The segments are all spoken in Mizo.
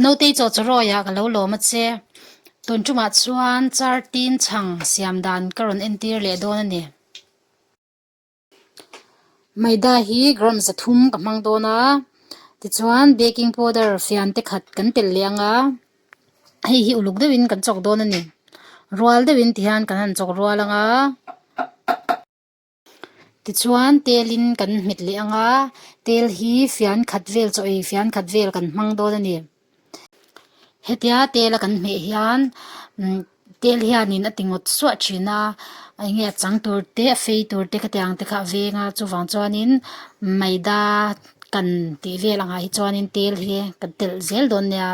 Notei chaw chaw rawiah ka lo lawm a che. Tun tumah chuan char tin chhang siam dan ka rawn entir leh dawn a ni. Maida hi gram za thum ka hmang dawn a, tichuan baking powder fian te khat kan telh leh anga hei hi uluk deuhin kan chawk dawn a ni. Rual deuhin ti hian kan han chawk rual anga. Tichuan tel in kan hmet leh ang a, tel hi fian khat vel chaw ei fian khat vel kan hmang dawn a ni. Hetia tel a kan hmeh hian umm tel hian in a ti ngawt suah thin a, eng nge a chang tur te a fei tur te khati ang te kha a veng a, chuvang chuan in maida kan tih vel ang ah hi chuan in tel hi kan telh zel dawn nia.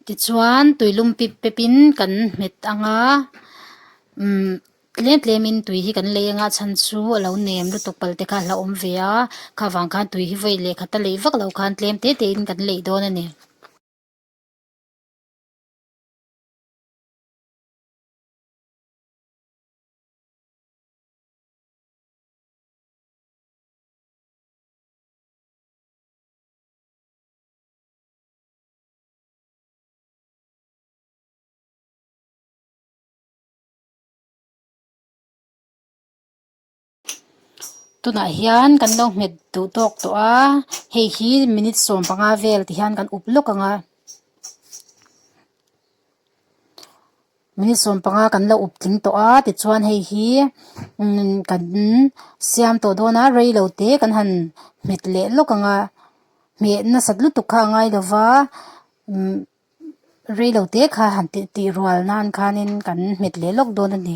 Tichuan tui lum pip pip in kan hmet ang a umm tlem tlem in tui hi kan lei ang a a chhan chu a lo nem lutuk pal te kha a hla awm ve a kha vang khan tui hi vawi leh khat a lei vak lo khan tlem te te in kan lei dawn a ni. tunah hian kan lo nghet duh tawk tawh a hei hi minute sawm panga vel ti hian kan uk lawk ang a. Minute sawm panga kan la up tling tawh a tichuan hei hi kan siam tawh dawn a rei lo te kan han hmet leh lawk ang a hmeh nasat lutuk kha a ngai lo va rei lo te kha han tih tih rual nan khanin kan hmet leh lawk dawn a ni.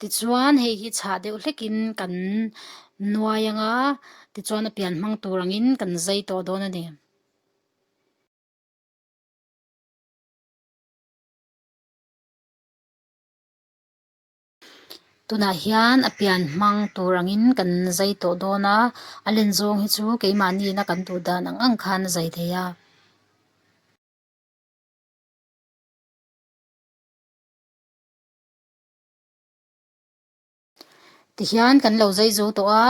Tichuan hei hi chhah deuh hlekin kan nuai anga tichuan a pian hmang tur angin kan zai tawh dawn a ni. Tunah hian a pian hmang tur angin kan zai tawh dawn a, a len zawng hi chu keimahniin kan duh dan ang ang khan a zai thei a. ti hian kan lo zai zo tawh a,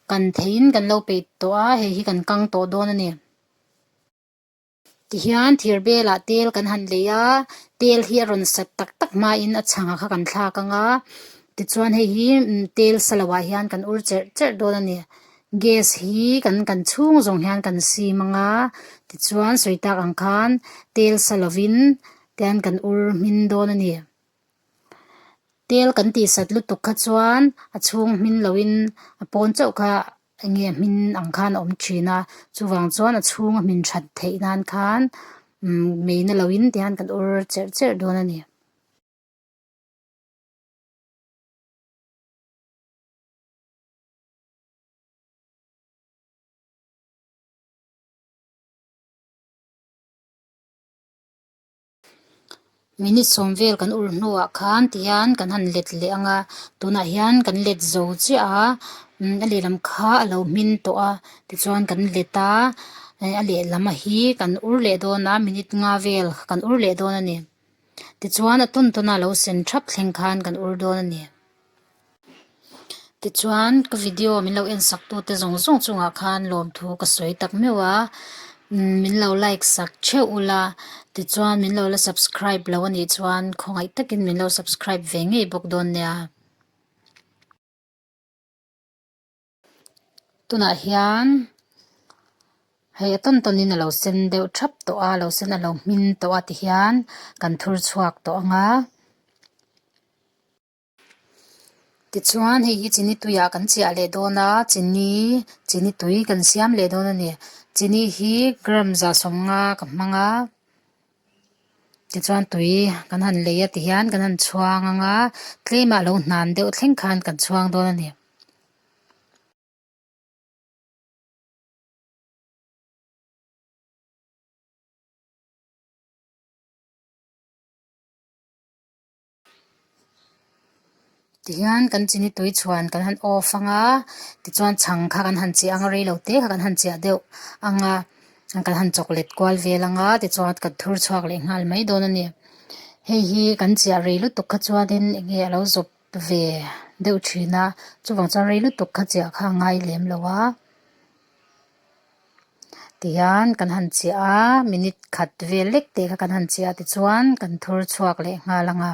kan thei in kan lo peih tawh a, hei hi kan kang tawh dawn a ni. Ti hian thir belah tel kan han lei a, tel hi a rawn sat tak tak hma in a chhang ah kha kan thla kang a, ti chuan hei hi tel sa lo ah hian kan ur cherh cherh dawn a ni. Gas hi kan kan chhung zawng hian kan sim ang a, ti chuan sawi tak ang khan tel sa lo in Tian kan ur hmin dawn a ni. Tel kan tih sat lutuk kha chuan a chhung hmin lo in a pawn chauh kha eng nge hmin ang khan a awm thin a, chuvang chuan a chhung a hmin that theih nan khan umm mei na lo in tian kan ur cherh cherh dawn a ni. Minute sawm vel kan ulh hnuah khan ti hian kan han let leh ang a tunah hian kan let zo chiah a a lehlam kha a lo hmin tawh a tichuan kan let a eh a lehlam a hi kan ur leh dawn a minute nga vel kan ur leh dawn a ni tichuan a tun tuna lo sen thap thleng khan kan ur dawn a ni. Tichuan ka video min lo en sak tute zawng zawng chungah khan lawmthu ka sawi tak meuh a min lo like sak theuh ula tichuan min lo la subscribe lo a nih chuan khawngaih takin min lo subscribe ve ngei bawk dawn nia tunah hian hei a tawn tawn in a lo sen deuh thap tawh a lo sen a lo hming tawh a ti hian kan thur chhuak tawh ang a. Tichuan hei hi chini tui ah kan chiah leh dawn a chini chini tui kan siam leh dawn a ni chini hi gram za sawm nga ka hmang a tichuan tui kan han lei a ti hian kan han chhuang ang a tlem ah lo hnan deuh thleng khan kan chhuang dawn a ni. Tihian kan chi ni tui chhuan kan han off ang a tichuan chhang kha kan han cheh ang a reilote te kha kan han cheh deuh ang a kan han chawk let kual vel ang a tichuan kan thur chhuak leh nghal mai dawn a ni hei hi kan cheh a rei lutuk kha chuanin eng nge a lo zawp ve deuh thin a chuvang chuan rei lutuk kha cheh kha a ngai lem lo a. tihian kan han chiah a minute khat vel lek teh kha kan han chiah a tichuan kan thur chhuak leh nghal anga.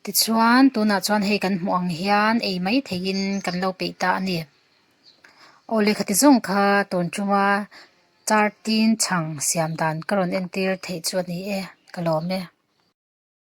Tichuan tunah chuan hei kan hmuh ang hian ei mai theihin kan lo peih ta a ni aw lehkha ti zawng kha tawn ṭunga char tin chhang siam dan ka rawn entir theih chu a ni e ka lawm e.